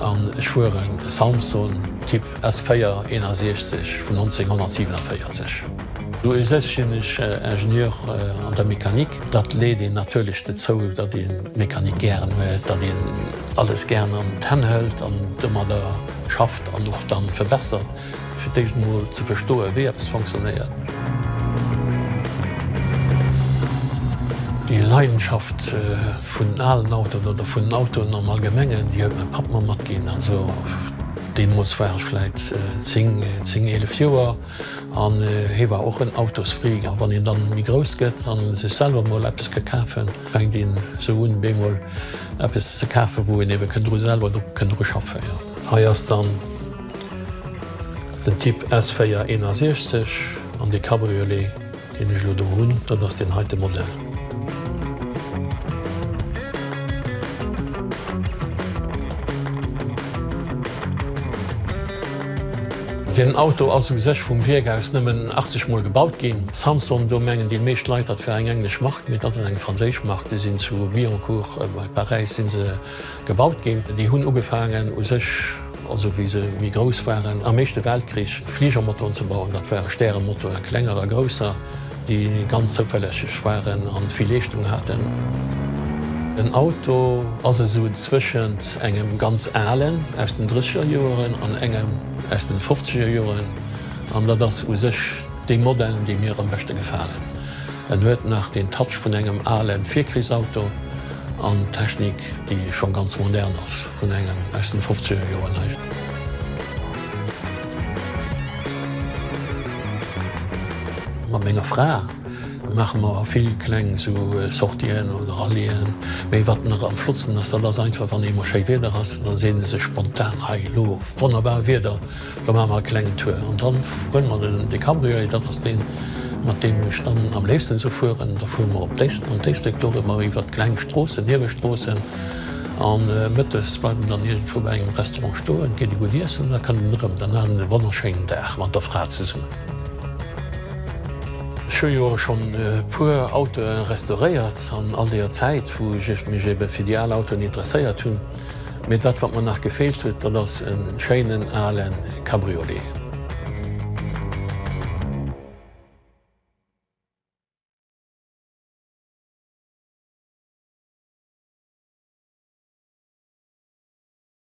An ech fueren e Samson Typ S 4 61 vun 1947. U sech sinn ech Ingenieur an der Mechanik. Dat leet een natierlech dozou, datt ee d'Mechanik gären huet, datt een alles gären an d'Hänn hëlt an domadder schafft an och dann verbessert. Fir d'éischt emol ze verstoen, wéi eppes fonctionnéiert. Déi Leidenschaft vun alen Autoen oder vun Autoen am Allgemengen, déi huet mäi Papp mer matginn. Also deemools war ech vläit zéng, zéng, eelef Joer an hie war och en Autosfreak. A wann een dann méi grouss gëtt an sech selwer emol eppes ka kafen, fänkt een esou un, bemol eppes ze kafen, wou een ebe kënnt dru selwer kënnt dru schaffen, jo. Hei ass dann Den Typ S461 an dee Cabriolet, deen ech elo do hunn, dat ass deen heite Modell. Deen Auto ass u sech vum Wierk aus nëmmen 80 Mol gebaut ginn. Samson, do mengen déi meescht Leit, dat wär eng englesch Mark, mee dat ass eng franséisch Mark. Déi sinn zu Billancourt bei Paräis si se Gebaut ginn. Déi hunn ugefaangen u sech, also wéi se méi grouss waren, am Éischte Weltkrich Fligermotoren ze bauen. Dat ware Stäremotoren, klenger a grousser, déi ganz zouverlässeg waren an vill Leeschtung haten. En Auto ass esou zwëschent engem ganz alen aus den Drësseger Joeren an engem aus den Fofzeger Joeren, an dat ass u sech dee Modell, dee mir am beschte gefalen. En huet nach den Touch vun engem ale Virkrichsauto. An Technik déi schon ganz modern ass vun engem aus den fofzeger Joer neicht. Mat menger Fra maache mer vill kleng esou Sortien oder Rallyen. Mee wat nach am flottsten ass, dat ass einfach wann eemol schéi Wieder ass, da seet ee sech spontan, hei elo wonnerbar Wieder. Da maache mer e klengen Tour an dann huele mer den Decabriolet. Dat ass deen, mat deem ech dann am léifsten esou fueren. Da fuere mer op d'Éislek an d'Éislek, do hu mer iwwert kleng Stroossen, Niewestroossen an mëttes bleiwe mer dann iergendwou bei engem Restaurant stoen, ginn e gutt iessen an da kënne mer erëm. Dann hat en e wonnerschéinen Dag mat der Fra zesummen. Ech hu jo schonn e puer Autoe restauréiert an all deeër Zäit, wou ech mech ebe fir déi al Autoen interesséiert hunn. Mee dat wat mer nach gefeelt huet, dat ass e schéinen alen Cabriolet.